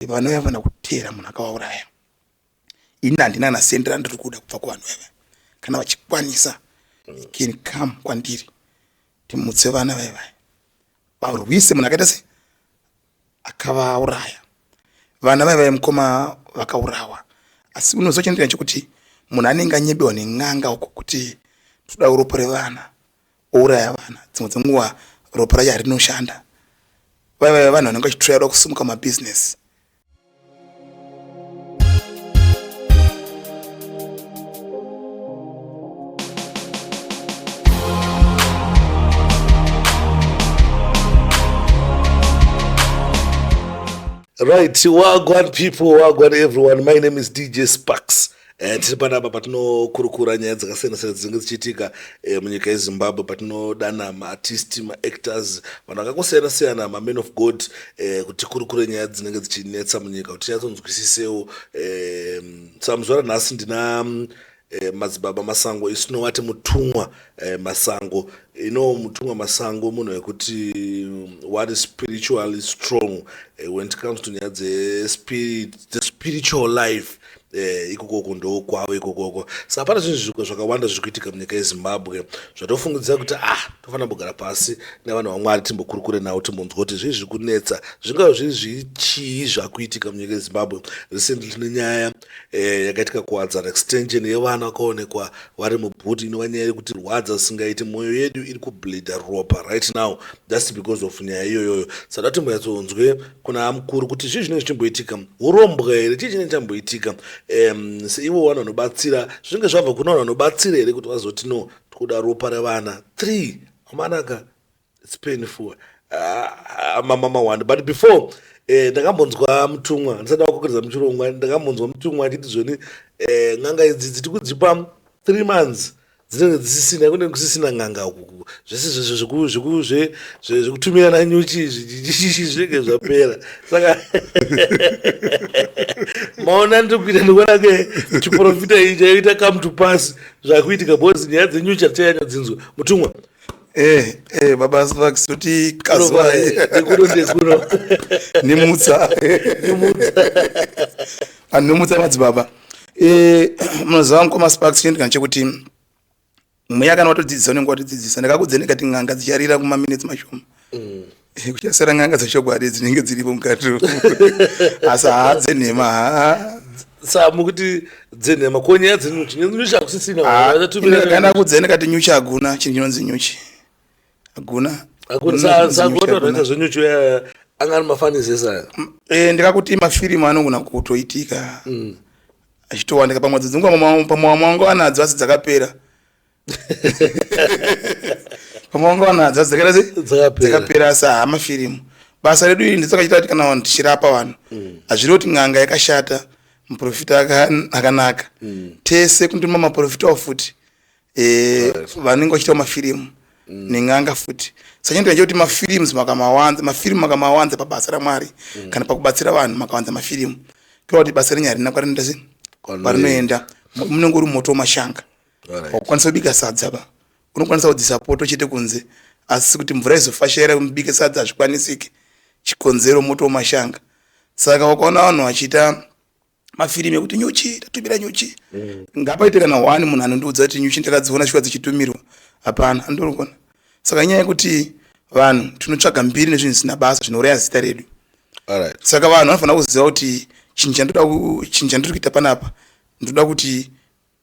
vanhu vaya vana kuteera munhu akavauraya ini handina kana sendi randiri kuda kubva kuvanhu vaya vaya kana vachikwanisa you can come kwandiri timutse vana vaya vaya varwise munhu akaita se akavauraya vana vaya vaya mukoma vakaurawa asi unozochendeera chekuti munhu anenge anyebewa nen'anga uko kuti toda uropo revana ouraya vana dzimwe dzenguva ropa racho harinoshanda vaiva vanhu vanenge vachiturairwa kusimuka mabhizinesi Right, wagwan people, wagwan everyone. My name is DJ Sparks. Eh, tiri panapa patinokurukura nyaya dzakasiyana siyana dzinenge dzichiitika eh, munyika yezimbabwe patinodana maartist maactors vanhu vakangosiyana siyana maman of god eh, kuti kurukure nyaya dzinenge dzichinetsa munyika kuti tinyatsonzwisisewo eh, samuzuva ranhasi ndina mm, eh, madzibaba masango isu tinowati mutumwa eh, masango ino mutumwa masango munhu wekuti mm, what is spiritually strong eh, when it comes to nyaya dzespirit the spiritual life eh, ikokoko ndokwavo ikokoko sa hapana zvinhu zviko zvakawanda zviri kuitika munyika yezimbabwe zvatofungidzira kuti ah tofanira kugara pasi nevanhu vamwari timbokurukure nawo timbonzwa kuti zvii zviri kunetsa zvingava zviri zvichii zvakuitika munyika yezimbabwe recently tine nyaya eh, yakaitika kuwadzana extension yevana vakaonekwa vari mubhuti inova nyaya yekuti rwadza singaiti mwoyo yedu iri kubleeda ropa right now just because of nyaya iyoyoyo sada timboyatsonzwe kuna amukuru kuti zvii zvinenge zvichimboitika urombwa here chii chinenge chamboitika um, seivo vanhu vanobatsira zvinenge zvabva kuna vanhu vanobatsira here kuti vazoti no tikuda ropa revana three amanaka its painful ah, mamama one but before eh, ndakambonzwa mutumwa ndisati wakokeredza muchirongwa ndakambonzwa mutumwa achiti zvoni eh, n'anga idzi dziti kudzipa three months dzinenge dzisisina kunenge kusisina n'anga uku zvese zvekutumirana nyuchi zvinenge zvapera saka maona ndikuita ndikuona ke chiprofita iyi chaita come to pass zvakuitika bcause nyaya dzenyuchi hatichanyanya dzinzwa mutumwa eh, eh, baba vax kuti kazwaikuno ndekuno nimutsa nimutsa anhu nimutsa madzibaba eh, munoziva mukoma sparks chinhu kana chekuti mweya kana watodzidzisa unenge watodzidzisa ndakakudze ndikati n'anga dzicharira kumaminetsi mashoma mm. eh, kuchasara n'anga dzechokwadi dzinenge dziripo mukati asi haa dzenhema haa sa mukuti dzenhema ko nyaya dzenyuchi nyuchi hakusisina ah, kana kudzene kati nyuchi hakuna chinhu chinonzi nyuchi hakuna sakuotoita zvenyuchi eh, anga ari mafanizesa eh, ndikakuti mafirimu anogona kutoitika mm. achitowanika pamwe dzidzinguva pamwe wamwe wangu anadzo asi dzakapera pamwe wangu anadzo asi dzakapera asi haa mafirimu basa redu iri ndisakachita kuti kana vanhu tichirapa vanhu mm. hazviri kuti n'anga yakashata muprofita akanaka mm. tese kundima maprofitawo futi eh, vanenge vachitawo mafirimu mm. nen'anga futi saka ndinoita kuti mafirimu makamawanza mafirimu makamawanza pabasa ramwari mm. kana pakubatsira vanhu makawanza mafirimu tova kuti basa renyu harina kwarinoenda sei kwarinoenda munenge uri moto wemashanga wakukwanisa kubika sadza ba unokwanisa kudzisa poto chete kunze asi kuti mvura izofashaira mubike sadza hazvikwanisiki chikonzero moto wemashanga saka wakaona vanhu vachiita mafirimu ekuti nyuchi tatumira nyuchi mm. ngapaite kana one munhu anondiudza kuti nyuchi ndakadziona shuwa dzichitumirwa hapana andorikona saka nyaya yekuti vanhu tinotsvaga mbiri nezvinhu zvisina basa zvinouraya zita redu right. saka vanhu vanofanira kuziva kuti chinhu chandoda chinhu chandiri kuita panapa ndoda kuti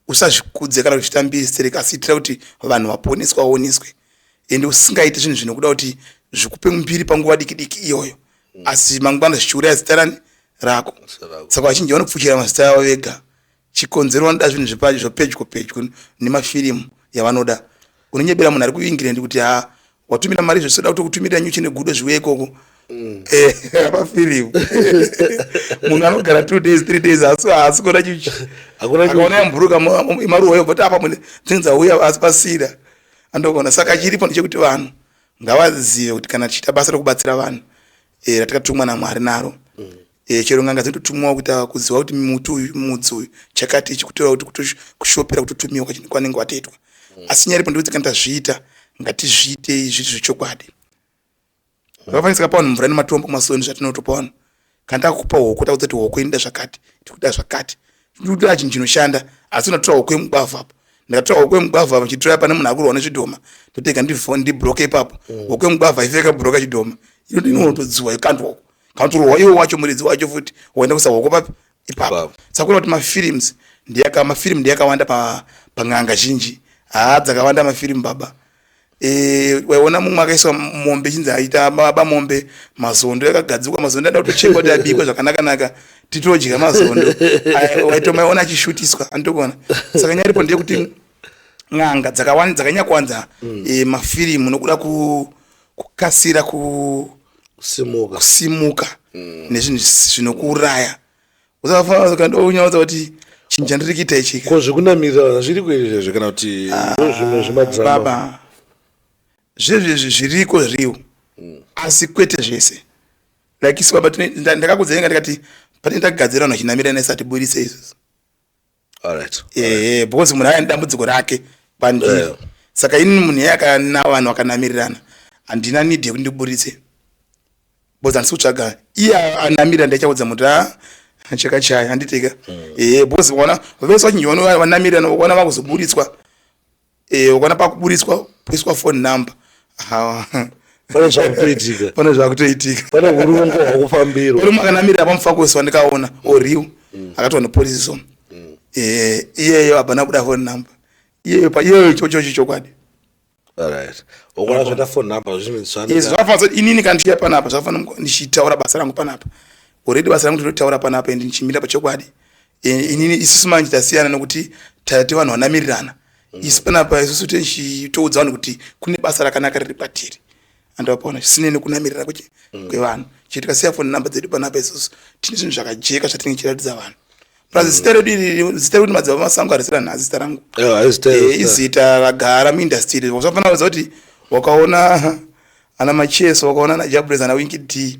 usazvikudze kana uchiita mbesere kasi itira kuti vanhu vaponeswa vaoneswe ende usingaiti zvinhu zvinokuda kuti zvikupe mumbiri panguva diki diki iyoyo mm. asi mangwana zvichiuraya zita rani rako saka vachinji vanopfuchira mazita avo vega chikonzero vanoda zvinhu zvepedyo pedyo nemafirimu yavanoda unonyebera munhu ari kuingirendi kuti ha watumira mari zvese da kutokutumirira nyuchi negudo zviwe ikoko mm. eh, apafirimu munhu anogara two days three days haasi kuona nyuchi akaona yamburuka maruwa yo bvoti apa mune dzingi dzauya asi pasira andokuona saka chiripo ndechekuti vanhu ngavazive kuti kana tichiita basa rekubatsira vanhu eh, ratikatumwa namwari naro mm. e, chero nganga dzinototumiwa kuti ah, kuziva kuti muti uyu mudzi uyu chakati ichi kutora kuti kutoshopera kutotumiwa kwachinhu kwanenge watoitwa mm. asi nyaripo ndikuti kana tazviita ngatizviitei zviri zvechokwadi zvakafanisika pavanhu mvura nematombo masoni zvatinotopa vanhu kana takupa hoko takuti kuti hoko inoda zvakati tikuda zvakati tikuda chinhu chinoshanda asi unotora hoko yemugwavha apo ndakatora hoko yemugwavha apo chitora pane munhu akurohwa nezvidhoma totega ndibroke ipapo mm. hoko yemugwavha ifeka broka chidhoma inotodzua ikandwa uko kanotorwa iwo wacho muridzi wacho futi woenda kusahoko papi ipapo saka kuona kuti mafilms ndiyaka mafilm ndiyakawanda pa pan'anga zhinji haa dzakawanda mafilm baba Eh, waiona mumwe akaiswa mombe chinzi aita baba mombe mazondo yakagadzikwa mazondo ada kutochekwa kuti abikwe zvakanakanaka titodya mazondo waitomaiona achishutiswa anditokuona saka nyaya iripo ndeyekuti n'anga dzakawani dzakanyakwanza mm. e, mafirimu nokuda ku kukasira kusimuka, kusimuka mm. nezvinhu zvinokuuraya usafanira ukaenda unyaudza kuti chinhu chandiri kuita ichi ko zvekunamirira vana zviri kuizvezve kana kuti ah, ndozvimwe zvemadzibaba zvezvezvi zviriko zviriwo mm. asi kwete zvese like isu baba ndakakudzai nga ndikati pane ndakugadzira vanhu vachinamira nesati burise izvozvo Alright. Eh, because munhu aine dambudziko rake pandiri. Yeah. Saka ini munhu yeye akana vanhu vakanamirirana. Handina need yekuti ndiburitse. Because handisi kutsvaga. Iye anamirira ndaichaudza muti ah cheka chaya handiteka. Mm. Eh, because vona vese vachinjwa vanamirira vona vakuzoburitswa. eh ukona pakuburitswa poiswa phone number ha pane zvakutoitika pane zvakutoitika pane urungo hwakufambirwa uri makanamirira pamufakosi wandikaona oriwo mm. akatona police so mm. eh iyeyo abana kuda phone number iyeyo pa iyeyo chocho chokwadi alright ukona zvata phone number zvimwe zvana yes zvafanza inini kanti ya panapa zvafana ndichitaura basa rangu panapa already basa rangu ndinotaura panapa and ndichimira pachokwadi inini isusu manje tasiyana nokuti taite vanhu vanamirirana mm. isi panapa isusu tichitoudza vanhu kuti kune basa rakanaka riri patiri andivapaona zvisinei nekunamirira kuchi mm. kwevanhu chiti kasiya foni number dzedu panapa isusu tine zvinhu zvakajeka zvatinenge tichiratidza vanhu plus mm. zita redu iri zita rekuti madzibaba masango harisi ranhazi zita rangu eh, izita ragara muindastry iri zvafanira kuudza kuti wakaona ana macheso wakaona ana jabres ana winki d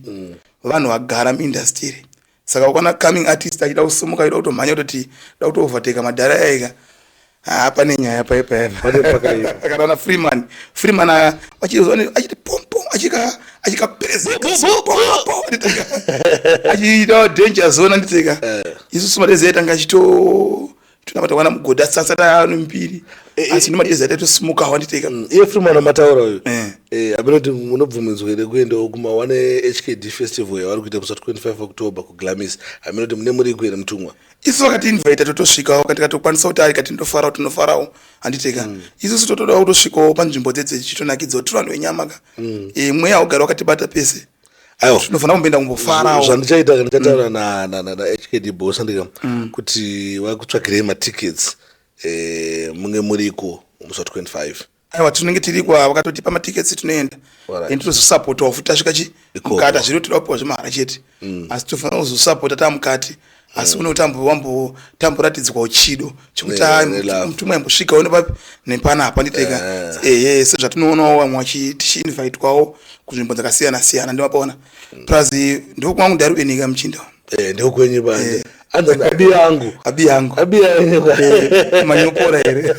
vanhu vagara muindastry iri saka ukaona coming artist achida kusimuka achida kutomhanya kutoti da kutooverteka madhara yaika haa pane nyaya paye payapakati ana freeman freeman achiti pompom achikaperezeachiita danger zona nditeka eh. isu sumadezi yaitanga achito tunamata mwana mugodhi asi asati anombiri eh, eh. asi nomadezi atatosimuka hwanditeka mm, iye fri mwana mataura uyu eh. abinoti munobvumidzwa here kuendawo kuma one hkd festival yavari kuita kusa 25 october kuglamis aminoti mune muriko here mutumwa isu vakatiinvaita totosvikawo kandikatokwanisa kuti ari kati ndofarawo tinofarawo handiteka mm. isusu totodawo kutosvikawo panzvimbo dzedze chitonakidzawo tiri vanhu venyama ka mm. mweya ugari wakatibata pese aiwa ndinofanira kumboenda kumbofarawo zvandichaita ndikataura na- na- na- na hkd boss andika kuti vakutsvagirei matickets eh, munge muriko musi wa 25 aiwa tinenge tiriko ava vakatotipa matickets tinoenda Alright. and tozosapotawo futi tasvika chi Ikoko. mukati hazviri kuti toda kupiwa zvemahara chete asi tofanira kuzosapota tamukati asi une utambo wambo tamboratidzwa uchido chekuti Yeah, ah, ne love. mutumwa yambosvika une papi nepana apa nditeka Yeah. ehe sezvatinoonawo vamwe vachi- tichiinvitwawo kunzvimbo dzakasiyana siyana ndimapaona plus ndiko kwangu ndari uenika muchinda Eh, ndokwenye bande anzani abi yangu abi yangu abi yangu manyopora here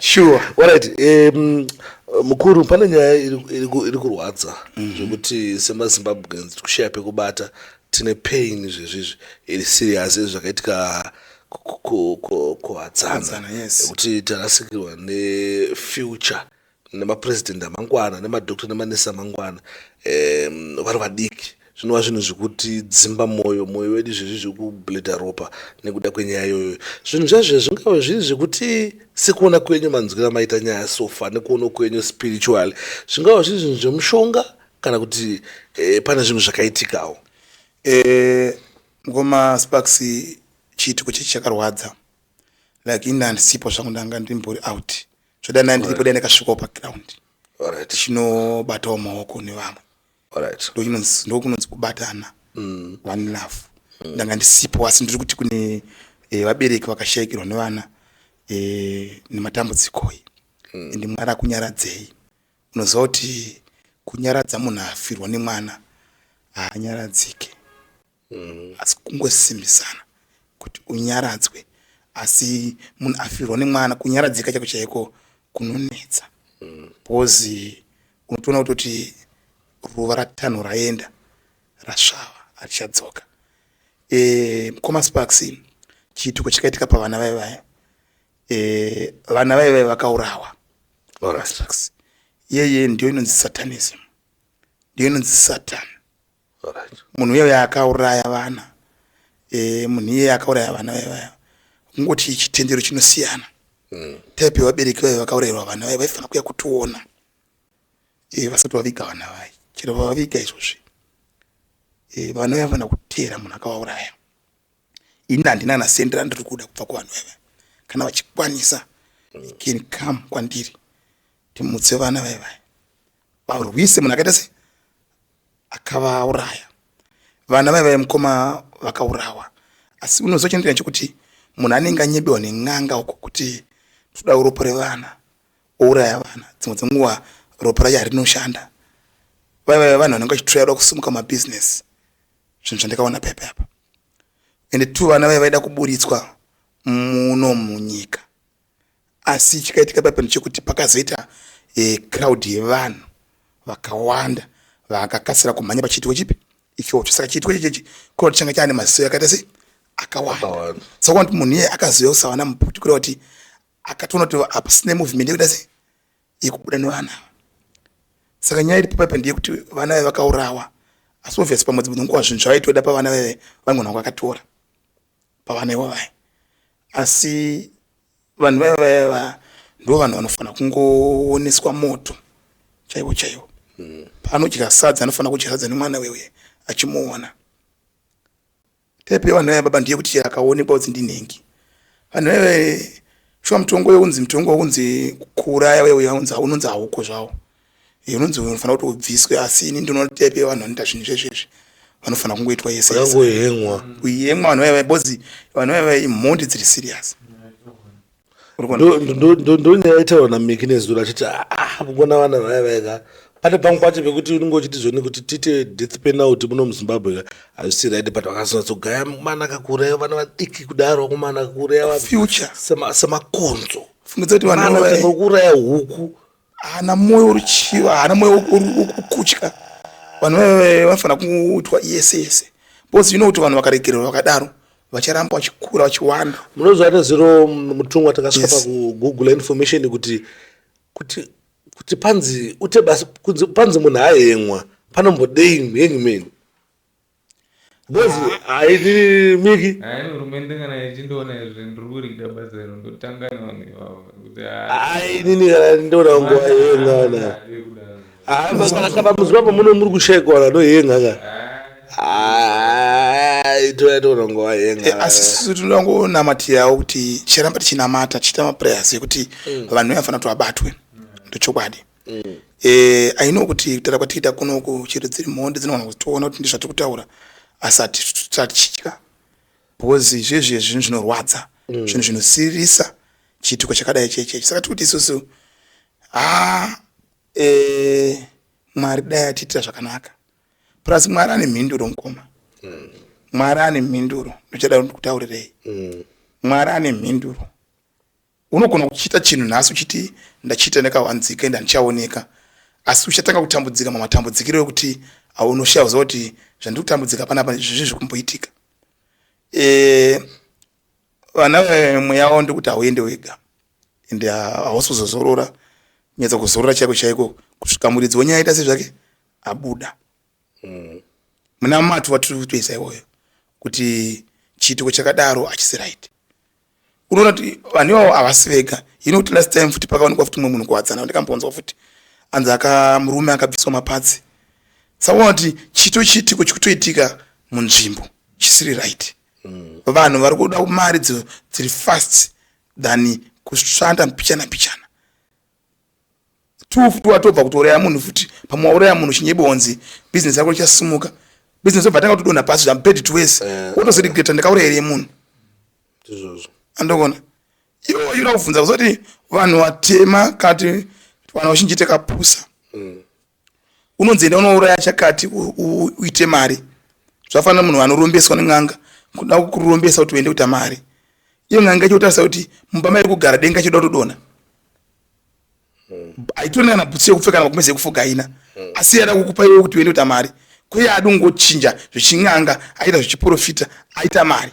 sure Alright, um, mukuru pane nyaya iri- iri ku- iri kurwadza zvekuti semazimbabweans tikushaya pekubata Tine pain izvezvi izvi iri serious izvi zvakaitika kuhadzana yekuti tarasikirwa nefuture nemapresident amangwana nemadoctor nemanesi amangwana vari vadiki zvinova zvinhu zvekuti dzimba mwoyo mwoyo wedu izvezvi zvekubleda ropa nekuda kwenyaya iyoyo zvinhu zvazvo zvingave zviri zvekuti sekuona kwenyu manzwira maita nyaya sofa nekuona kwenyu spiritually zvingava zviri zvinhu zvemushonga kana kuti e, pane zvinhu zvakaitikawo e, mukoma sparks chiitiko chechi chakarwadza like ini handisipo zvangu ndanga ndimbori out zvoda nai ndiripo dai ndakasvikawo paground tichinobatawo maoko nevamwe ndokunonzi kubatana mm. one love mm. ndanga ndisipo asi ndiri kuti kune eh, vabereki vakashayikirwa nevana eh, nematambudzikoi mm. ende mwari akunyaradzei Unoziva kuti kunyaradza munhu afirwa nemwana haanyaradzike mm. asi kungosimbisana kuti unyaradzwe asi munhu afirwa nemwana kunyaradzika chako chaiko kunonetsa mm. bcause unotoona kutoti ruva ratanho raenda rasvava harichadzoka e, mukoma sparks chiitiko chakaitika pavana vaye vaya eh, vana vaye vaive vakaurawa right. yeye ndiyo inonzi satanism ndiyo inonzi satan right. munhu uye akauraya vana e, munhu iye akauraya vana vaye vaya kungoti chitendero chinosiyana mm. type yevabereki vaye vakaurayirwa vana vaye vaifanira kuya kutiona e, vasati vaviga vana vaye chero vavaviga izvozvi e, vana vaye vanofanira kuteera munhu akawauraya ini handina kana sendi randiri kuda kubva kuvanhu vaiva kana vachikwanisa can come kwandiri timutse vana vaivaya varwise munhu akaita se akavauraya vana vaivaya mukoma vakaurawa asi unozochendeya chekuti munhu anenge anyebiwa nen'anga uko kuti toda uropo revana ouraya vana dzimwe dzenguva ropo racho harinoshanda vaivaya vanhu vanenge vachitoyada kusimuka mabhizinesi zvinhu zvandakaona pepe apa ende two vana vaye vaida kuburitswa muno munyika asi chikaitika pape ndechekuti pakazoita e, crowd yevanhu vakawanda vakakasira kumhanya pachiitiko chipi ichocho saka chiitiko ichechi crowd changa chaane maziso yakaita sei akawanda saka kuti munhu iye akazoya kusawana muputi kureva kuti akatoona kuti apa sine movement yekuita sei yekubuda nevana ava saka nyaya iri paipa ndeyekuti vana vave vakaurawa asi obvious pamwe dzimwe nguva zvinhu zvavaitoda pavana veve vanogona kwakatora pavana ivo vaya asi vanhu vaya vaya va ndo vanhu vanofanira kungooneswa moto chaivo chaivo mm. paanodya sadza anofanira kudya sadza nemwana weuye achimuona Tepi yevanhu vaya baba ndiye kuti chero akaonekwa kuti ndinhengi. Vanhu vaya shuwa mutongo younzi mutongo wounzi kuuraya uye uya unzi unonzi hauko zvawo. Eh, unonzi unofanira kuti ubviswe asi ini ndinoona kuti tepi yevanhu vanoita zvinhu izvezvi izvi vanofanira kungoitwa yese yese. Vangohengwa. Kuhengwa vanhu vaya vaya bozi vanhu vaya vaya imhondi dziri serious. ndonyaya itaura namiki nezuro achiti ah, ah, kugona vana vaya vaika pane pamwe pacho pekuti unenge uchiti zvoni kuti tiite death penalty muno muzimbabwe ka hazvisi right but vakazonyatsogaya mwana akakureya vana vadiki kudaro kumana akakureya semakonzo fungidzati vanouraya huku haana mwoyo uri chiva haana mwoyo ukutya vanhu vave vanofanira kuitwa yese yese bcause you know kuti vanhu vakaregererwa vakadaro vacharamba vachikura vachiwanda munoziva nezero mutumwa takasvika yes. pakugoogle information kuti kuti kuti panzi ute basi kunzi panzi munhu aenwa panombodei henyu meni Ngozi haidi miki. Hayi hurumende kana yechindoona izvi ndiri kurida basa iro ndotanga nevanhu ivavo kuti Hayi inini kana ndinoda nguva yenga kana. Hayi maka pamuzi papo muno muri kushaikwa kana ndoyenga kana. Hayi toya toona nguva yenga. Eh, asi sisi tinongonamatirawo kuti ticharamba tichinamata tichiita maprayers ekuti vanhu vanofanira kuti vabatwe ndochokwadi mm. eh, i know kuti kutaura kwatiita kunoku chero dziri mhondi dzinogona kuti toona kuti ndizvatiri kutaura asi hatitya because izvezvi zvinhu zvinorwadza mm. zvinhu zvinosirisa chiitiko chakadai chechechi saka tiri kuti isusu ha ah, eh, mwari dai atiitira zvakanaka plus mwari ane mhinduro mukoma mm. mwari ane mhinduro ndochada kutaurirei mm. mwari ane mhinduro Unogona kuchita chinhu nhasi uchiti ndachita ndakawanzika ende handichaoneka asi uchatanga kutambudzika mamatambudzikiro ekuti aunoshaya kuziva kuti zvandiri kutambudzika panapa izvi zviri kumboitika e, vana mweya wavo ndekuti hauende wega ende hausi kuzozorora nyatsa kuzorora chaiko chaiko kusvika muridzi wenyaya aita sezvake abuda mm. muna matu vatiri kutoisa iwoyo kuti chiitiko chakadaro hachisi right unoona kuti vanhu ivavo havasi vega hino kuti last time futi pakaonekwa futi mumwe munhu kuwadzana ndikambonzwa futi anzi akamurume akabviswa mapatsi saka kuti chito chiitiko chikutoitika munzvimbo chisiri right mm. vanhu vari kuda mari dziri fast than kushanda mbichana mbichana two futi watobva kutouraya munhu futi pamwe wauraya munhu chinyebonzi business yako ichasimuka business obva tanga kutodonha pasi zvambed twes eh. wotozoregreta ndakauraya here munhu andokona iwo yura kubvunza kuzoti vanhu vatema kati vanhu vachinjite kapusa mm. unonzi enda unouraya chakati uite mari zvafanira munhu anorombeswa nen'anga kuda kurombesa kuti uende kuita mari iyo n'anga ichotarisa kuti mumba mairi kugara denga choda kutodona haitone kana bhutsu yekupfeka namakumezi ekufuga haina hmm. asi yada kukupa iwe kuti uende kuita mari kuye adi ungochinja zvechin'anga aita zvechiprofita aita mari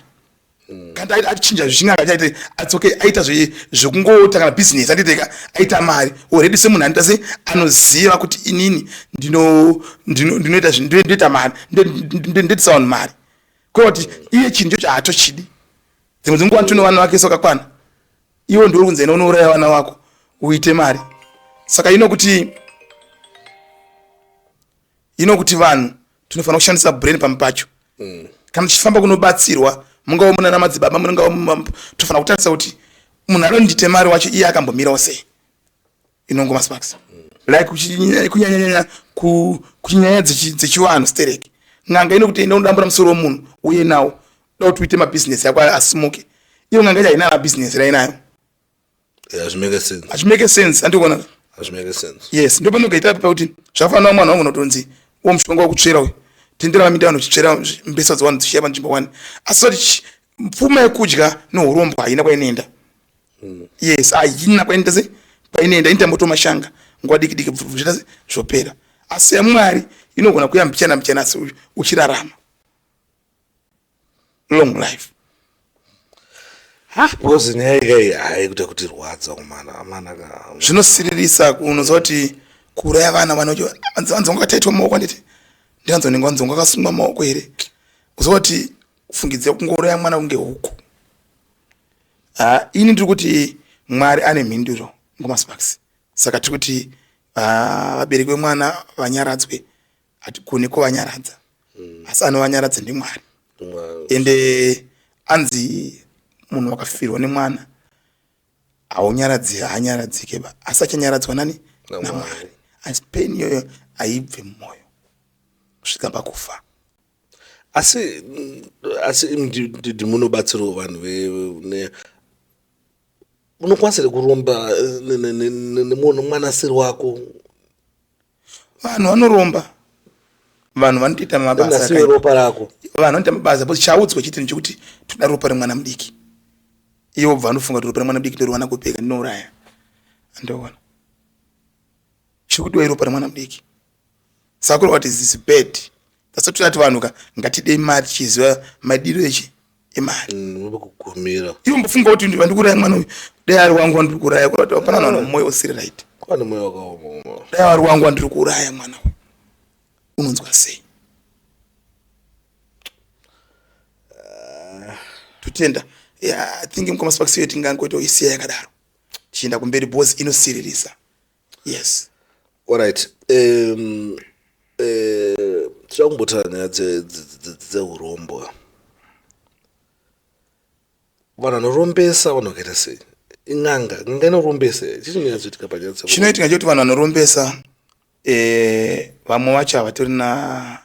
mm. kanda aita achinja zvichinga akachaite ats okay aita zve zvekungota kana business anditeka aita mari already semunhu anoita se anoziva kuti inini ndino ndinoita zvinhu ndoita mari ndoitisa vanhu mari kwekuti iye chinhu chocho haatochidi dzimwe dzinguva nditino vana vake sokakwana iwo ndiuri kunzi ena unouraya vana vako uite mari saka ino kuti ino kuti vanhu tinofanira kushandisa brain pamwe pacho mm. kana tichifamba kunobatsirwa mungava munana madzibaba mungava tofanira kutarisa kuti munhu anondite mari wacho iye akambomirawo sei inongoma sparks mm. like kunyanyanyanya kunyaya dzechivanhu stereki n'anga inokuti enda unodambura musoro wemunhu uye nawo da kuti uite mabhizinesi yako asimuke iyo n'anga ichainana bhizinesi rainayo hazvimeke sense andikuona yes ndo panogaita api pakuti zvakafanana mwana wangu unotonzi wo mushonga wekutsvera uyu tenderana minda vanhu zvichitsvera mbesa dzawani dzichiya panzvimbo wani asi sati pfuma yekudya neurombwa haina kwainoenda hmm. yes haina kwainoenda se kwainoenda initamboto mashanga nguva diki diki zviita se zvopera asi yamwari inogona kuya mbichana mbichana asi uchirarama long life because nyaya ikai haikuita kuti rwadza kumana amana zvinosiririsa unoziva kuti kuuraya vana vanaanzonga taitwa maoko anditi ndianzonenge wanzonga akasungwa maoko here uziva kuti kufungidzira kungouraya mwana kunge huku ini ndiri kuti mwari ane mhinduro ngomasparks saka tiri kuti vabereki vemwana vanyaradzwe hatigoni kuvanyaradza mm. asi anovanyaradza ndimwari ende anzi munhu wakafirwa nemwana haunyaradzi haanyaradzike ba asi achanyaradzwa nani namwari asi peni iyoyo haibve mumwoyo kusvika pakufa asi asi ndidi munobatsirawo vanhu vene unokwanisa kuromba eh, nemwanasiri wako vanhu vanoromba vanhu vanotoita mabasaropa rako vanhu vanoita mabasa bcause chaudzwa chete nechekuti toda ropa remwana mudiki ivo bva vanofunga kuti ropa remwana mudiki ndoriwana kupeka ndinouraya andoona chikudiwa iropa remwana mudiki sakura what is this bad tasatoti vanhu ka ngatidei mari tichiziva madiro echi imari mm, kukumira iwe mbofunga kuti ndiva ndikuraya mwana uyu dai ari wangu wandiri kuraya kurati hapana mwana mm. mwoyo usiri right pane mwoyo wakaoma dai ari wangu wandiri kuuraya mwana uyu unonzwa sei ah. totenda yeah, i think mukoma sparks yo tingangoita isiya yakadaro tichienda kumberi bos inosiririsa yes orit um, eh, tichava um, kumbotaura nyaya dzeurombo vanhu vanorombesa vanhu vakaita sei in'anga n'anga inorombesa chichinyatsoitika panyaya chinoitika chekuti vanhu vanorombesa eh, vamwe vacho havatori na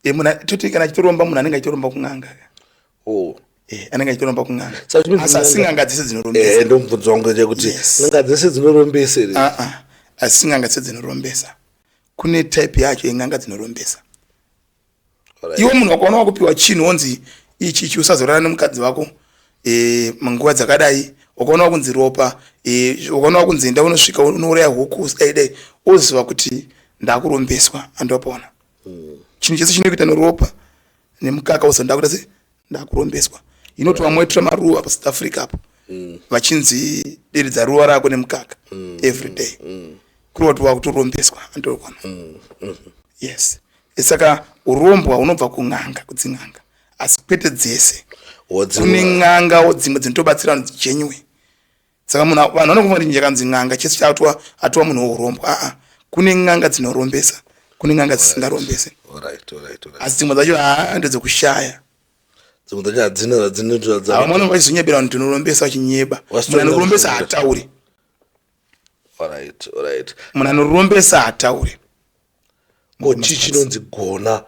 e, muna, toti kana achitoromba munhu anenge achitoromba kun'anga oh. Eh, anenge achitoromba kun'anga asi n'anga dzese dzinorombesa eh, ndomubvunzo wangu chekuti n'anga dzese dzinorombesa ere ah, ah. asi n'anga dzese dzinorombesa kune type yacho yen'anga dzinorombesa iwo munhu wakaona wakupiwa chinhu wonzi ichi ichi usazorana nemukadzi wako e, nguva dzakadai ukaona kunzi ropa e, ukaona kunzi enda unosvika unouraya huku dai dai oziva kuti ndakurombeswa andopona mm. chinhu chese chinokuita neropa nemukaka oziva ndakuita se ndakurombeswa inoti vamwe vaitira maruva pasouth africa apo mm. vachinzi deredza ruva rako nemukaka mm. every day mm. kureva kuti wakutorombeswa andokona mm. mm. yes saka urombwa unobva kun'anga kudzin'anga asi kwete dzese kune n'angawo dzimwe dzinotobatsira vanhu dzichenywe saka munhu vanhu vanokuva kuti njakanzi n'anga chese chaatwa atwa munhu wourombwa aa kune n'anga dzinorombesa kune n'anga dzisingarombese asi dzimwe dzacho haa ndedzekushaya dzimwe dzacho hadzina hadzinoavamwana vachizonyebera vanhu tinorombesa vachinyeba munhu anorombesa hataure munhu anorombesa hataure ko chii chinonzi gona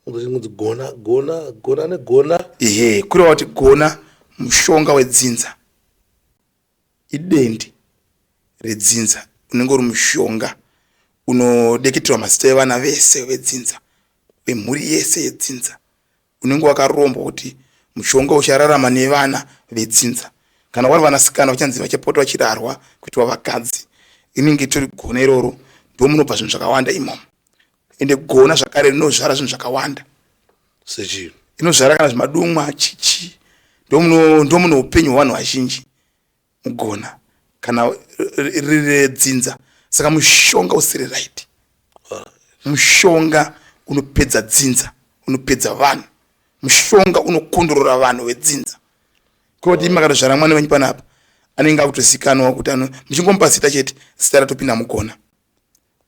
chinonzi gona gona gona negona ehe kureva kuti gona mushonga wedzinza idendi redzinza unenge uri mushonga unodeketerwa mazita evana vese vedzinza vemhuri yese yedzinza unenge wakarombwa kuti mushonga uchararama nevana vedzinza kana vari vanasikana vachanzi vachapota vachirarwa kuitwa vakadzi inenge itori gona iroro ndomunobva zvinhu zvakawanda imomo ende gona zvakare rinozvara zvinhu zvakawanda sechii inozvara kana zvemadumwa chichi ndomuno ndomuno upenyu hwevanhu vazhinji mugona kana riredzinza saka mushonga usiri right mushonga unopedza dzinza unopedza vanhu mushonga unokondorora vanhu vedzinza koti makatozvara mwana wenyu panapa anenge akutozikanwa kuti ano muchingomupa zita chete zita ratopinda mugona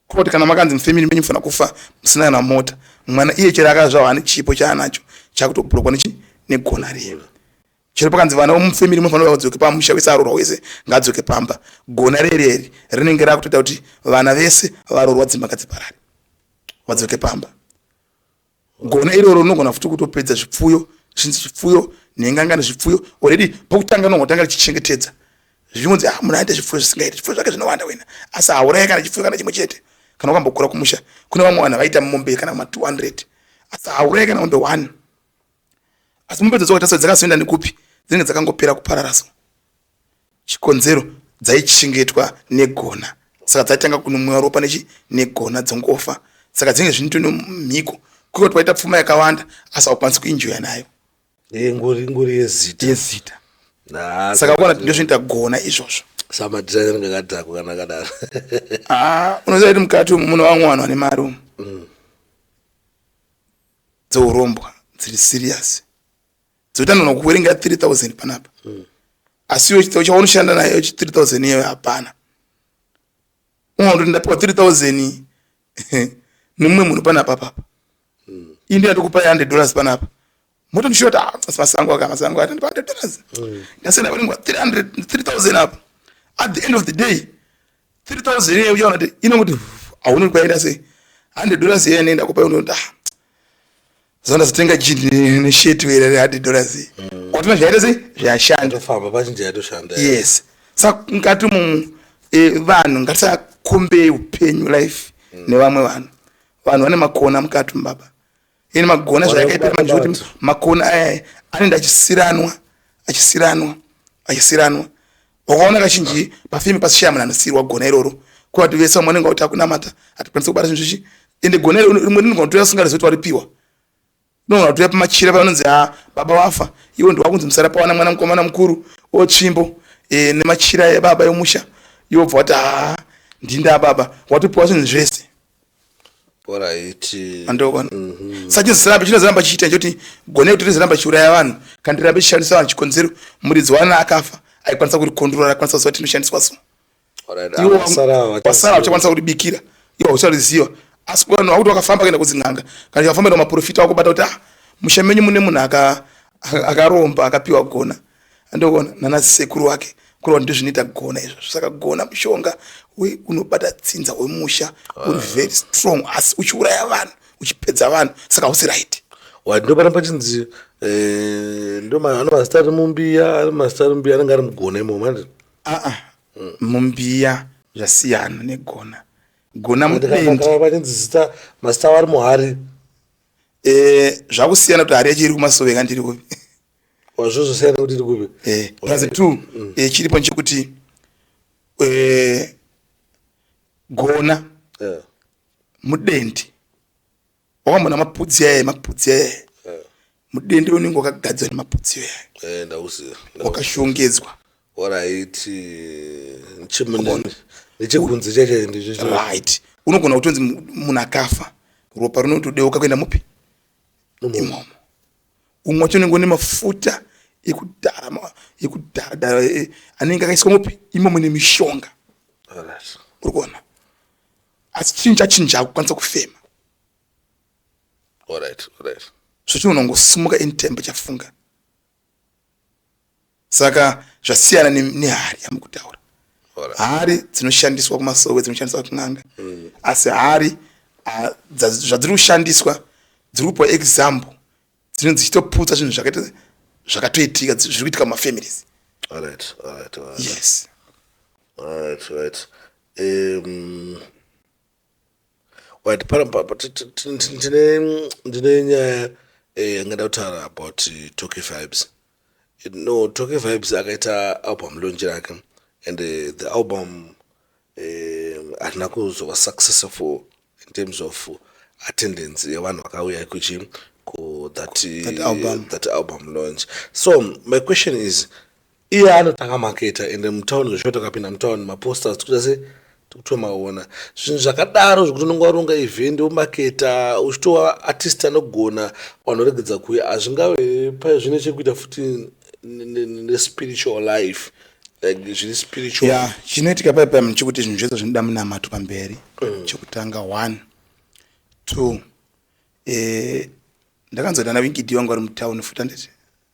koti kana makanzi mufamili menyu mufanira kufa musina kana mota mwana iye chero akazvawa ane chipo chaanacho chakutobhurokwa nechi negona riye chero pakanzi vana vomufemiri munofanira vadzoke pamusha wese arorwa wese ngaadzoke pamba gona rereri rinenge rakutoita kuti vana vese varorwa dzimba ngadziparare vadzoke pamba gona iroro rinogona futi kutopedza zvipfuyo zvinzi zvipfuyo nhengangani zvipfuyo already pokutanga unongotanga richichengetedza zvinonzi ah munhu aita zvipfuyo zvisingaiti zvipfuyo zvake zvinowanda wena asi hauraye kana chipfuyo kana chimwe chete kana ukambokura kumusha kune vamwe vanhu vaita mombe kana ma 200 asi hauraye kana mombe one asi mupedzo dzoka tasati dzakazoenda nekupi dzinenge dzakangopera kuparara so chikonzero dzaichengetwa negona saka dzaitanga kunomwiwa ropa nechi negona dzongofa saka dzinenge zvinoto nomhiko kuko kuti waita pfuma yakawanda asi haukwanisi kuinjoya nayo eh, ngori ngori yezita yezita ah, saka kuona kuti ndozvinoita gona izvozvo samadhizaina ringe kadhakwa kana kadaro ah, unoziva kuti mukati umu muno vamwe vanhu vane mari umu mm. dzeurombwa dziri serious dzoita nona kuverenga 3000 panapa mm. asi iwe chitau chawaunoshanda nayo 3000 iyoyo hapana unotondapiwa 3000 nemumwe munhu panapa papa mm. indi yatokupa 100 dollars panapa motondishuva kuti ah, masango aka masango atandipa 100 dollars mm. ndasenda vanengwa 3000 apa at the end of the day 3000 iye uchaona kuti inonguti hauna kwaenda sei 100 dollars iye anoenda kupa unoda ah, zona zitenga jini nesheti wera re 100 dollars iye mm. kwatina zvaita sei zvashanda famba pachinja yatoshanda yes saka ngati mu eh, vanhu ngatisakombe upenyu life mm. nevamwe vanhu vanhu vane makona mukati mbaba ini magona zvayakaita manje kuti makona aya anenda achisiranwa achisiranwa achisiranwa wakaona kazhinji pafimi pasishaya munhu anosiyirwa gona iroro kuva kuti vese vamwe anenge vakuti akunamata hatikwanisa kubata zvinhu zvichi ende gona iro rimwe rinogona kutoya singari zoti waripiwa unogona kutoya pamachira pavanonzi ha ah, baba wafa iwo ndi wakunzi musara pawana mwana mukomana mukuru otsvimbo e, nemachira ebaba yomusha yobva wati ha ah, ndinda baba watopiwa zvinhu zvese andoona mhm. saka chirambe chinozoramba chichiita choti gone kuti rizoramba chiuraya vanhu kana tirambe chishandisa vanhu chikonzero muridzi waana akafa aikwanisa kuri kondrora akwanisa kuziva tinoshandiswa so wasara uchakwanisa kuti bikira iwo hauchariziva asi vanhu vakuti wakafamba kuenda kudzin'anga kana chakafamba enda maprofita wakubata kuti ah musha menyu mune munhu akaromba akapiwa gona aka andoona nana sekuru wake kureva kuti ndozvinoita kugona izvozvo saka kugona mushonga we unobata tsinza wemusha uri ah. very strong asi uchiuraya vanhu uchipedza vanhu saka hausi right ndoparamba chinzi eh, ndoano mazita ari mumbiya ari mazita ari mumbiya anenge ari mugona imomo aa ah, ah. hmm. mumbiya zvasiyana negona gona mupendivachinzi zita mazita avo ari muhari eh, zvakusiyana kuti hari yacho iri kumasoveka ndiri kupi wazvozosiyana kuti iri kupi eh, plus two mm. eh, chiripo nchekuti eh, gona yeah. mudendi wakamona mapudzi yaye mapudzi yaye yeah. mudendi unenge wakagadzwa nemapudzi yaye eh, ndauziva wakashongedzwa waraiti nchimunene nechikunzi chacho ndicho right unogona kutonzi munhu akafa ropa rinotodeuka kuenda mupi imomo umwe wacho unenge une mafuta ekudhara ekudhara dhara eh, eh, anenge akaiswa mupi imo mune mishonga uri kuona asi chinhu chachinja kukwanisa kufema so chinhu unongosimuka in tembe chafunga saka zvasiyana ne- nehari yamukutaura Alright. hari dzinoshandiswa kumasowe dzinoshandiswa kun'anga asi hari ah, dza- zvadziri kushandiswa dziri kupa example dzinenge dzichitoputsa zvinhu zvakaita zvakatoitika dzi- zviri kuitika mumafamilies Alright, alright, alright, yes alright, alright. Um, Right, pano papa ti- ti- ti- ti- tine ndine nyaya eh, yangada kutaura about eh, Toki Vibes. No, Toki Vibes akaita album launch rake and eh, the album eh, hatina kuzova successful in terms of attendance yevanhu vakauya kuchi ku that, eh, That album. that album launch. So my question is Iye anotanga maketa ende mutown zveshuwa takapinda mutown maposters tikuita se tikutomaona zvinhu zvakadaro zvekuti unenge waronga event womaketa uchitova artist anogona vanhu regedza kuya hazvingave paye zvine chekuita futi nespiritual life like zviri spiritual yeah, chinoitika paye paye chekuti zvinhu zvese zvinoda munamato pamberi mm. chekutanga one two eh, ndakanzodana winkidi wangu ari mutown futi anditi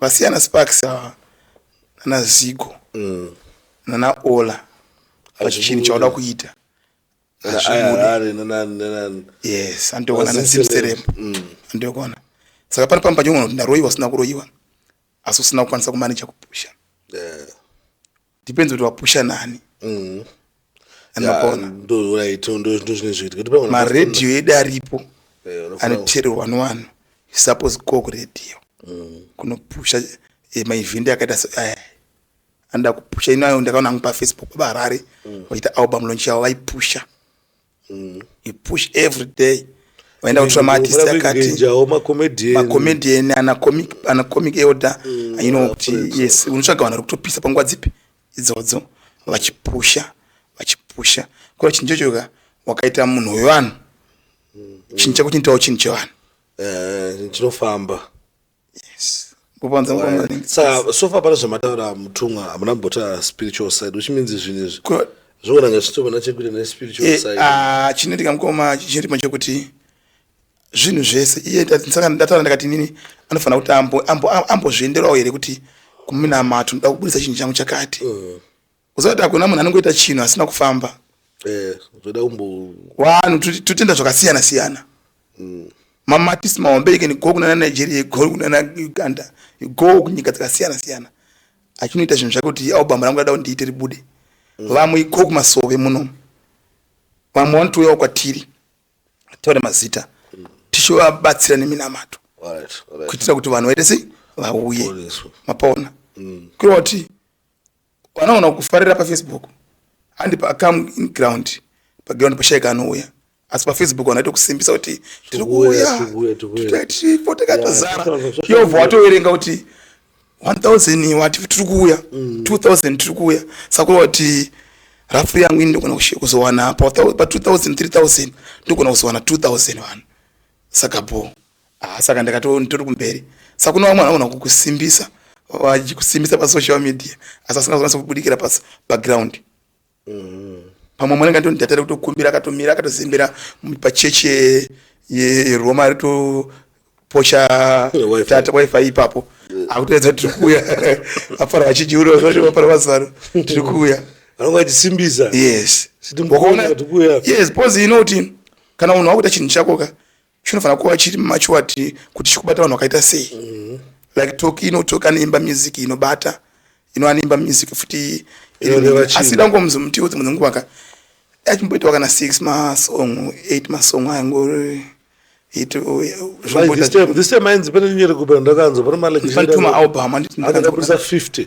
Vasiyana Sparks ava nana Zigo mm. nana Ola pachinhu chauda kuita yes andoona nasimserem andoona saka pano pamba panyongona kuti ndaroiwa usina kuroiwa asi usina kukwanisa kumaneja kupusha yeah. depends kuti wapusha nani mm. anapona maradio edu aripo eh, anoteerwa wani wani suppose ko kuradio mm. kunopusha eh, maevhindi akaita so eh, anoda kupusha inoayo ndakaona angu pafacebook babarari mm. vachiita album lonch yavo vaipusha mm. you push every day vaenda kutora maartist akatimacommedian anacomic elder mm, ainoa kuti yes unotsvaga vanhu vari kutopisa panguva dzipi idzodzo vachipusha vachipusha ko chinhu chochoka wakaita munhu wevanhu mm, mm. chinhu chakuchinitawo chinhu chevanhu eh, chinofamba sofa pane zvamataura mutumwa hamuna mbota spiritual side which means zvinhu izvi zvoona ngazvitovana chekuita nespiritual eh, side ah, chinoitika mukoma chirimo chekuti zvinhu zvese iye saka ndataura ndakati nini anofanira kuti ambozvienderawo here kuti kuminamato ndoda kubudisa chinhu changu chakati mm. uziva kuti hakuna munhu anongoita chinhu asina kufamba eh, zvoda umbo wanu totenda zvakasiyana siyana mm. mamatisi mahombe you can go kunana nigeria you go kunana uganda you go kunyika dzakasiyana siyana achinoita zvinhu zvake kuti album rangu rada kundiite ribude mm. vamwe you go kumasove muno vamwe vanotouyawo kwatiri taure mazita mm. tichivabatsira neminamato kuitira kuti vanhu vaite sei vauye mapaona mm. kureva kuti Wanaona kufarira pa Facebook handi pa come in ground pa ground pashaika anouya asi pa Facebook wanaita kusimbisa kuti tiri kuuya tiripo takatozara yobva watoverenga kuti 1000 wati tiri kuuya 2000 mm. tiri kuuya saka wati rafu yangu ini ndogona kuzowana pa 2000 3000 ndogona kuzowana 2000 vanhu saka bho Ah, saka ndakato nditori kumberi saka kune vamwe vanogona kukusimbisa vachikusimbisa pasocial media asi asingazonatsa kubudikira pas background mm. pamwe mwana ngandoni ndatare kutokumbira akatomira akatozembera pachechi yeroma ye ritoposha tata wifi ipapo mm. akutoedza tiri kuuya afara vachidyi uri vafara vazaro tiri kuuya vanovaitisimbisa yes wakaona yes bcause inoti kana unhu wakuita chinhu chakoka chinofanira kuva chiri mumachwati kuti chikubata vanhu vakaita sei mm. like toki inotoki anoimba music inobata ino anoimba music futi asi dangomuzi mutiwo dzimwe dzenguva ka achimboitawo kana six masong eight masong ayangori itofanituma album anditifanituma 50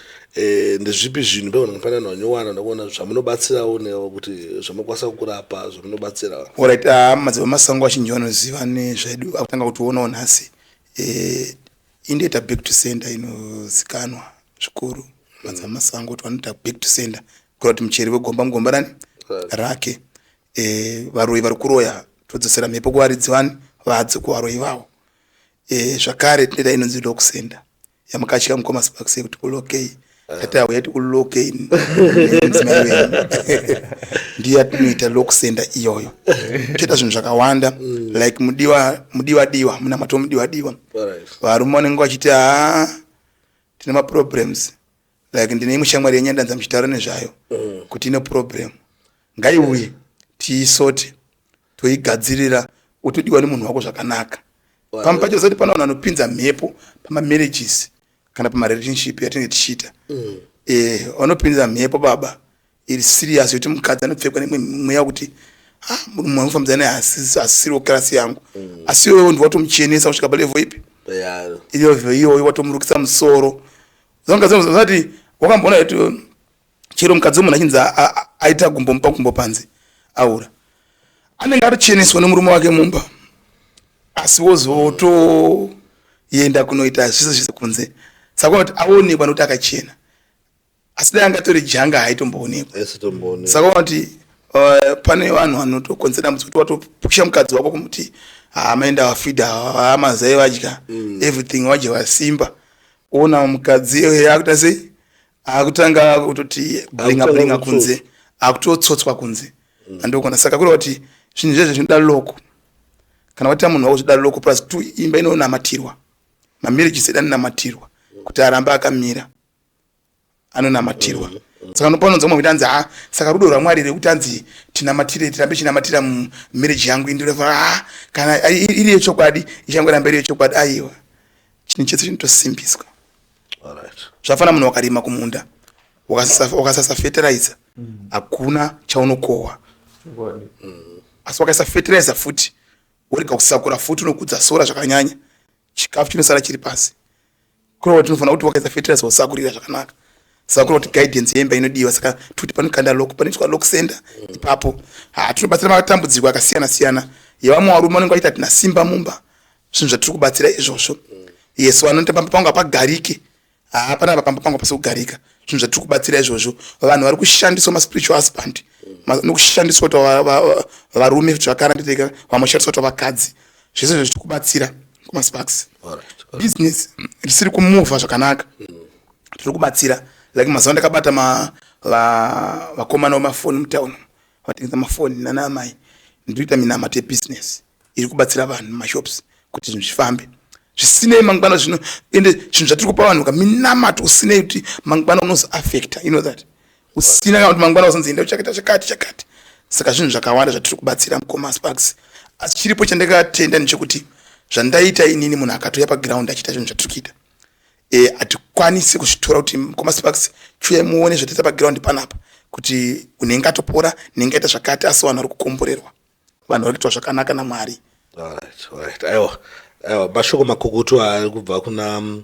e, ndezvipi zvinhu pevanhu mufanira vanyowara ndakuona zvamunobatsirawo newo kuti zvamakwanisa kurapa zvamunobatsirawo orit ah, madziva masango vachinji vanoziva nezvedu akutanga kutionawo nhasi e, indoita back to center inozikanwa zvikuru madziva mm. masango kuti vanoita back to center kura kuti mucheri vegomba mugomba rani rake e, varoyi vari kuroya todzosera mhepo kuvaridzi vani vadzo kuvaroyi vavo e, zvakare tinoita inonzi lokusenda yamukatya mukoma sparks yekuti kulokei eh. tati auya ti kulokei ndiyo yatinoita lokusenda iyoyo toita zvinhu zvakawanda mm. like mudiwa mudiwa diwa munamato mudiwa diwa varume vanenge vachiti haa tine maproblems like ndine imwe shamwari yenyu yandanza muchitaura nezvayo mm. kuti ine problem ngaiuye tiisote toigadzirira utodiwa nemunhu wako zvakanaka pamwe pacho zati pana vanhu vanopinza mhepo pamamarriages kana pamarelationship yatinenge tichiita mm. eh, vanopinza mhepo baba iri serious yokuti mukadzi anopfekwa nemwe mweya wekuti ah, munhu mumwe anofambisa naye asiriwo kirasi yangu mm. asi iwewe ndi watomuchenesa kusvika palevo ipi ilevo iyoyo watomurukisa musoro zangazati wakamboona kuti um, chero mukadzi wemunhu achinzi aita gumbo mupa gumbo panze aura anenge atocheneswa nemurume wake mumba asi wozotoenda kunoita zvese zvese kunze saka kuti aonekwa nokuti akachena asi dai angatori janga haitomboonekwa saka unoti uh, pane vanhu vanotokonzera dambudziko kuti watopusha mukadzi wako kumuti hamaenda ah, wafida hamazai ah, vadya mm. everything vadya vasimba ona mukadzi iyoyo akuita sei akutanga kutoti blinga blinga kunze akutotsotswa kunze mm. andokona saka kuri kuti zvinhu zvezvo zvinoda loko kana waita munhu wako zvinoda loko plus two imba inonamatirwa mamarriage seda namatirwa kuti arambe akamira anonamatirwa mm -hmm. saka nopanounza mwe kuti anzi ha saka rudo rwamwari here kuti anzi tinamatire tirambe chinamatira mumarriage yangu indireva ha kana iri yechokwadi ichangoramba iri yechokwadi aiwa chinhu chese chinotosimbiswa zvafana munhu wakarima kumunda wakasasa fertilizer mm. hakuna chaunokohwa mm. asi wakaisa fertilizer futi urega kusakura futi unokudza sora zvakanyanya chikafu chinosara chiri pasi kureva kuti tinofanira kuti wakaisa fetirasi wasakurira zvakanaka saka kureva kuti guidance yemba inodiwa saka tikuti panokanda lok panoitwa lok center mm. ipapo ha tinobatsira matambudziko akasiyana siyana yevamwe varume vanenge vaita tina simba mumba zvinhu zvatiri kubatsira izvozvo mm. yes vanotamba pangu hapagarike haa panapa pamba pangu pasi kugarika zvinhu zvatiri kubatsira izvozvo vanhu vari kushandiswa maspiritual husband nokushandiswa tavarume kuti vakarandireka vamoshandiswa tavakadzi zvese izvo zvitiri kubatsira kumasparks business risiri kumuvha zvakanaka tiri kubatsira like mazuva ndakabata vakomana vemafoni mutown vatengesa mafoni nana amai ndiri kuita minamato yebusiness iri kubatsira vanhu mumashops kuti zvinhu zvifambe zvisinei mangwana zvino ende zvinhu zvatiri kupa vanhu ka minamato usinei kuti mangwana unozoaffecta you know that usina kana kuti mangwana uzonzi enda uchakaita chakati chakati saka zvinhu zvakawanda zvatiri kubatsira mukoma sparks asi chiripo chandakatenda ndechekuti zvandaita inini munhu akatouya paground achiita zvinhu zvatiri kuita e, hatikwanisi kuzvitora kuti mukoma sparks chiuya muone zvataita paground panapa kuti unenge atopora nenge aita zvakati asi vanhu vari kukomborerwa vanhu vari kuitwa zvakanaka namwari aiwa aiwa mashoko makukutu ari kubva kuna mm,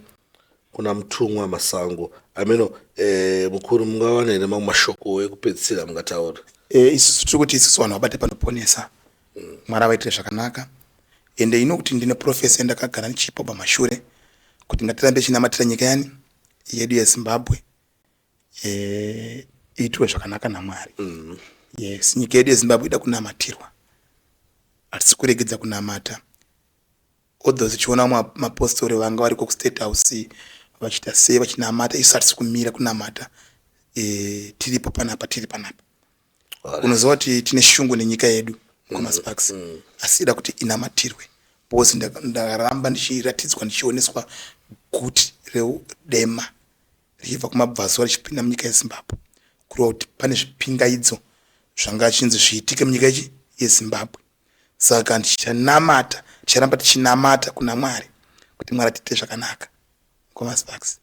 kuna mutumwa masango ameno eh, mukuru mungawana here mamwe mashoko ekupedzisira mungataura eh, isusu tiri kuti isusu vanhu vabate panoponesa mm. mwari avaitire zvakanaka ende ino kuti ndine profesi yandakagara ndichipa pamashure kuti ngatirambe chinamatira nyika yani yedu yezimbabwe eh, iitwe zvakanaka namwari mm. yes nyika yedu yezimbabwe ida kunamatirwa hatisi kuregedza kunamata although zichiona mapostori vanga variko kustate house vachiita sei vachinamata isu hatisi kumira kunamata e, tiripo panapa tiri panapa unoziva kuti tine shungu nenyika yedu kumasparks mm, mm. asi ida kuti inamatirwe because ndakaramba ndichiratidzwa ndichioneswa guti reudema richibva kumabvazuva richipinda munyika yezimbabwe kureva kuti pane zvipingaidzo zvanga achinzi zviitike munyika yechi yezimbabwe saka ndichanamata ticharamba tichinamata kuna mwari kuti mwari atiite zvakanaka komasbax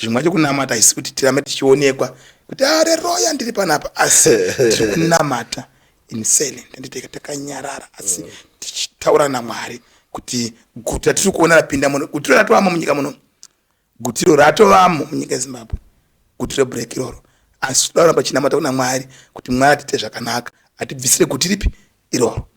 zvimwe acho kunamata haisi kuti tirambe tichionekwa kuti areroya ah, ndiri panapa asi tiri kunamata insene ndanditeka takanyarara asi mm. tichitaura namwari kuti guta tiri kuona rapinda muno kuti ratoama munyika muno Gutiro ratovamo munyika yeZimbabwe, gutiro break iroro, asi tinoda kuramba tichinamata kuna Mwari kuti Mwari atiite zvakanaka, atibvisire guti ripi iroro.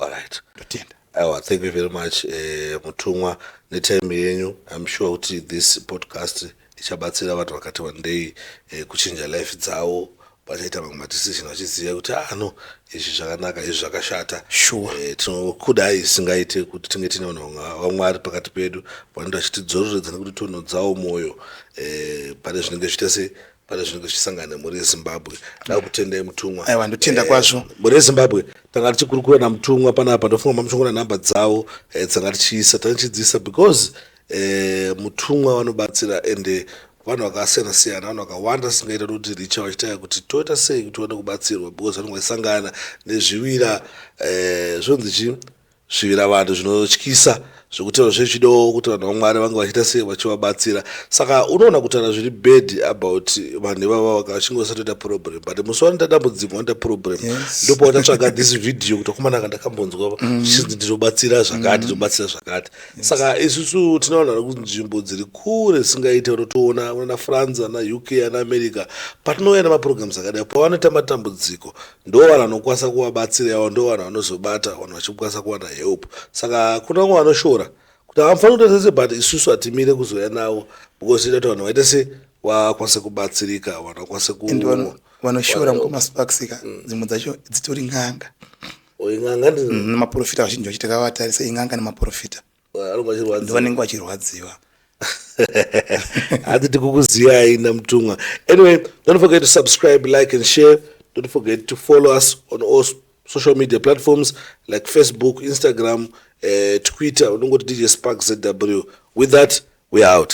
Alright. Ndotenda. Aiwa, thank you very much eh, mutumwa netime yenyu. I'm sure kuti this podcast ichabatsira vanhu vakati wandei eh, kuchinja life dzavo vachaita mamwe madecision vachiziva kuti ah no izvi zvakanaka izvi zvakashata sure eh, tinokudai isingaite kuti tinge tine vanhu vamwari pakati pedu vanoita vachitidzororedza nekuti tonhodzawo mwoyo eh, pane zvinenge zviita sei pane zvinenge zvichisangana nemhuri yezimbabwe da kutendai mutumwa aiwa ndotenda eh, kwazvo mhuri yezimbabwe tanga tichikurukura namutumwa panapa ndofunga mamuchongona nhamba dzawo eh, dzanga tichiisa tanga tichidziisa because eh, mutumwa vanobatsira ende vanhu vakasiyana siyana vanhu vakawanda singaita kuti richa vachitaya kuti toita sei kuti tiwane kubatsirwa because vanenge vachisangana nezvivira eh, zvonzi chii zvivira vanhu zvinotyisa zvekuti vanhu zvechidawo kuti vanhu vamwari vange vachiita sei vachivabatsira saka unoona kutaura zviri bad about vanhu ivava vakachinge vasatoita problem but musi wanoita dambudziko wanoita problem ndopaotatsvaga this video kuti akomana ka ndakambonzwa mm. chinzi ndinobatsira zvakati mm. ndinobatsira zvakati saka isusu tine vanhu vari kunzvimbo dziri kure singaite vanotoona vana france ana uk ana america patinouya nemaprograms akadai pavanoita matambudziko ndo vanhu vanokwanisa kuvabatsira yavo ndo vanhu vanozobata vanhu vachikwanisa kuwana help saka kuna vamwe vanoshora kuti havafanira kuita sese but isusu hatimire kuzouya navo because tinoita kuti vanhu vaite se vakwanise kubatsirika vanhu vakwanise ku vanoshora mukoma sparksika mm. dzimwe dzacho dzitori n'anga Oh, in'anga ndidzo Mm, nemaporofita vazhinji vacho takavatarisa in'anga nemaporofita anonga achirwadza ndovanenge vachirwadziwa hanzi tikukuziyai namutumwa anyway don't forget to subscribe like and share don't forget to follow us on all s- social media platforms like facebook instagram uh, twitter unongoti dj spark zw with that we are out